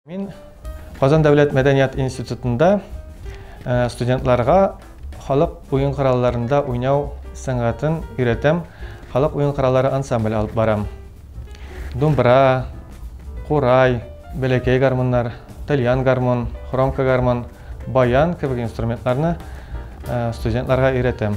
Мин Казан дәүләт мәдәният институтында студентларга халык уен коралларында уйнау сәнгатен өйрәтәм. Халык уен кораллары ансамбль алып барам. Думбра, курай, бәләкәй гармуннар, тальян гармун, хромка гармун, баян кебек инструментларны студентларга өйрәтәм.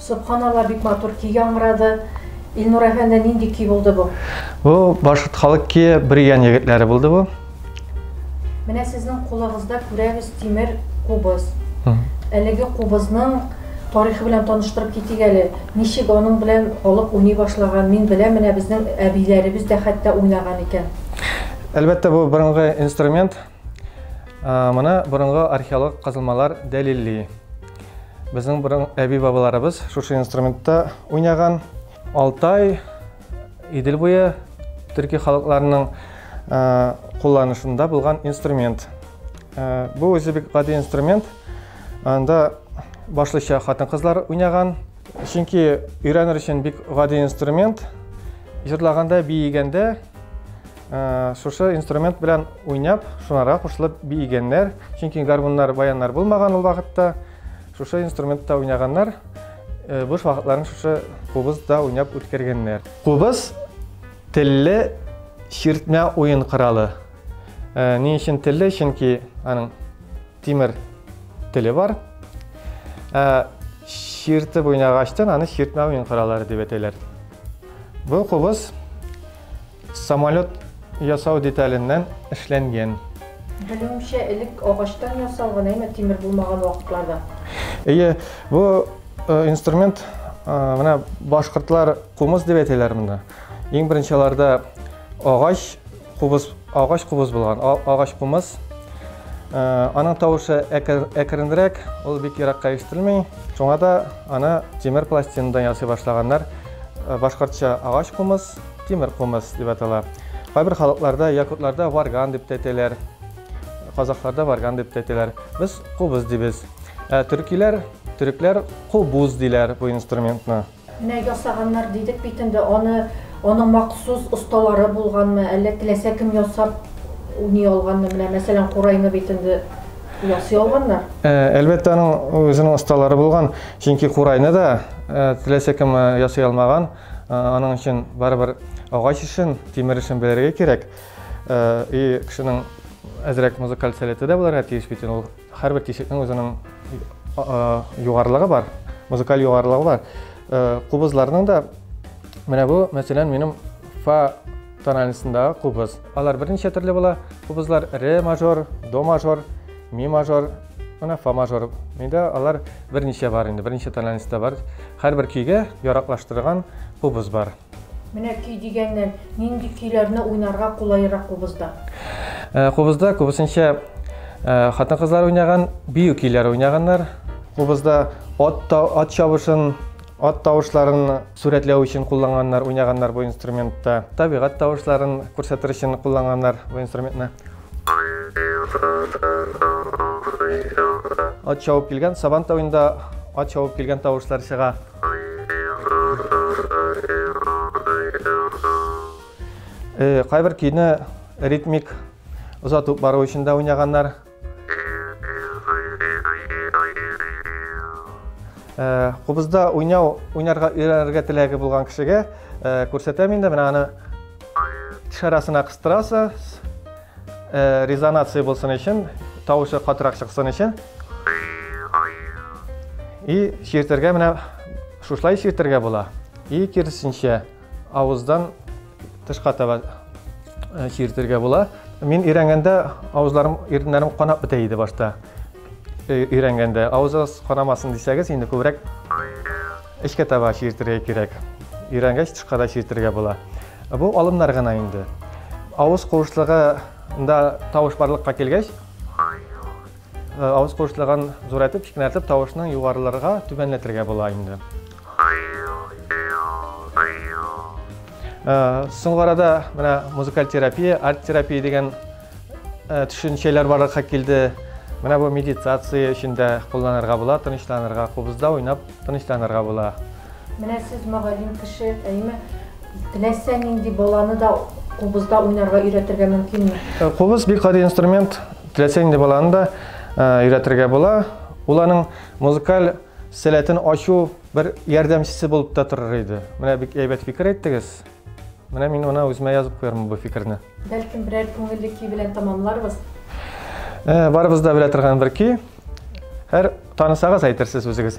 Собханалла бик матур көй яңгырады. Илнур әфәнде нинди көй булды бу? Бу башкорт халык көе Бөригән егетләре булды бу. Менә сезнең кулыгызда күрәбез тимер кубыз. Әлеге кубызның тарихы белән таныштырып китик әле. Ничек аның белән халык уйный башлаган? Мин беләм, менә безнең әбиләребез дә хәтта уйнаган икән. Әлбәттә, бу борынгы инструмент. Моны борынгы археолог казылмалар дәлилли. Безнең борын әби бабаларыбыз шушы инструментта уйнаган. Алтай, Идел буе төрки халыкларының кулланышында булган инструмент. Бу үзе бик гади инструмент. Анда башлыча хатын-кызлар уйнаган. Чөнки өйрәнер өчен бик гади инструмент. Җырлаганда, биегәндә Э, шушы инструмент белән уйнап шунара кушылып биегәннәр чөнки гармуннар баяннар булмаган ул вакытта шушы инструментта уйнаганнар э, буш вакытларын шушы кубызда уйнап үткәргәннәр кубыз телле чиртмә уен коралы э, ни өчен телле чөнки аның тимер теле бар чиртеп уйнагачтан аны чиртмә уен кораллары дип әйтәләр бу кубыз Самолет ясау деталеннән эшләнгән. Белүемчә, элек агачтан ясалган, әмма тимер булмаган вакытларда. Әйе, бу э, инструмент э, менә башкортлар кумыс дип әйтәләр монда. Иң беренче аларда агач кубыз, агач кубыз булган, агач кумыс. Э, аның тавышы әкренрәк, ул бик еракка ишетелми. Шуңа да аны тимер пластинадан ясый башлаганнар. Башкортча агач кумыс, Тимер кумыс дип атала. Кайбер халыкларда, якутларда варган дип тәтеләр. Казахларда варган дип тәтеләр. Без кубыз дибез. Ә төркиләр, төрекләр кубуз диләр бу инструментны. Менә ясаганнар дидек бит инде, аны аның махсус осталары булганмы, әллә теләсә кем ясап уйный алганмы? Менә мәсәлән, курайны бит инде ясый алганнар. Э, әлбәттә, аның үзенең осталары булган, чөнки курайны да э, теләсә кем э, ясый алмаган. Аның өчен барыбер агач эшен, тимер эшен белергә кирәк. И кешенең әзрәк музыкаль сәләте дә булырга тиеш бит. Ул һәрбер тишекнең үзенең югарылыгы бар, музыкаль югарылыгы бар. Кубызларның да менә бу, мәсәлән, минем фа тональностендагы кубыз. Алар берничә төрле була. Кубызлар ре мажор, до мажор, ми мажор, Менә фа мажор. Миндә алар берничә бар инде, берничә тональностьта бар. Һәрбер көйгә яраклаштырган кубыз бар. Менә көй дигәннән, нинди көйләрне уйнарга кулайрак кубызда? Э, кубызда күбесенчә э, хатын-кызлар уйнаган, бию көйләре уйнаганнар. Кубызда ат, ат чабышын, Ат тавышларын сурәтләү өчен кулланганнар, уйнаганнар бу инструментта. Табигать тавышларын күрсәтер өчен кулланганнар бу инструментны. Ат чабып килгән сабан тавында ат чабып килгән тавышлар чыга. Э, кайбер көйне ритмик озатып бару өчен дә уйнаганнар. Э, кубызда уйнау уйнарга өйрәнергә теләге булган кешегә э, күрсәтәм инде менә аны шарасына кыстырасыз э, резонация булсын өчен тавышы катырак чыксын өчен и чиртергә менә шушылай чиртергә була и киресенчә авыздан Тышка таба э, чиртергә була. Мин өйрәнгәндә авызларым, иреннәрем канап бетә иде башта. Э, өйрәнгәндә авызыгыз канамасын дисәгез, инде күбрәк эчкә таба чиртергә кирәк. Өйрәнгәч тышка да чиртергә була. Бу алымнар гына инде. Авыз куышлыгында тавыш барлыкка килгәч, Авыз куыштырган зурайтып, кикнәртеп тавышның югарылырга, түбәнләтергә була инде. Соңгы арада менә музыкаль терапия, арт терапия дигән төшенчәләр барлыкка килде. Менә бу медитация өчен дә кулланырга була, тынычланырга, кубызда уйнап Тынычланырга була. Менә сез мөгаллим кеше, әйеме? Теләсә нинди баланы да кубызда уйнарга өйрәтергә мөмкинме? Э, кубыз бик гади инструмент. Теләсә нинди баланы да э, өйрәтергә була. Ул аның музыкаль сәләтен ачу бер ярдәмчесе булып та торыр иде. Менә бик әйбәт фикер әйттегез. Менә мин ана үземә язып куярмын бу фикерне. Бәлкем берәр күңелле көй белән тамамларбыз. Ә, барыбыз да белә торган бер көй. Һәр танысагыз әйтерсез үзегез.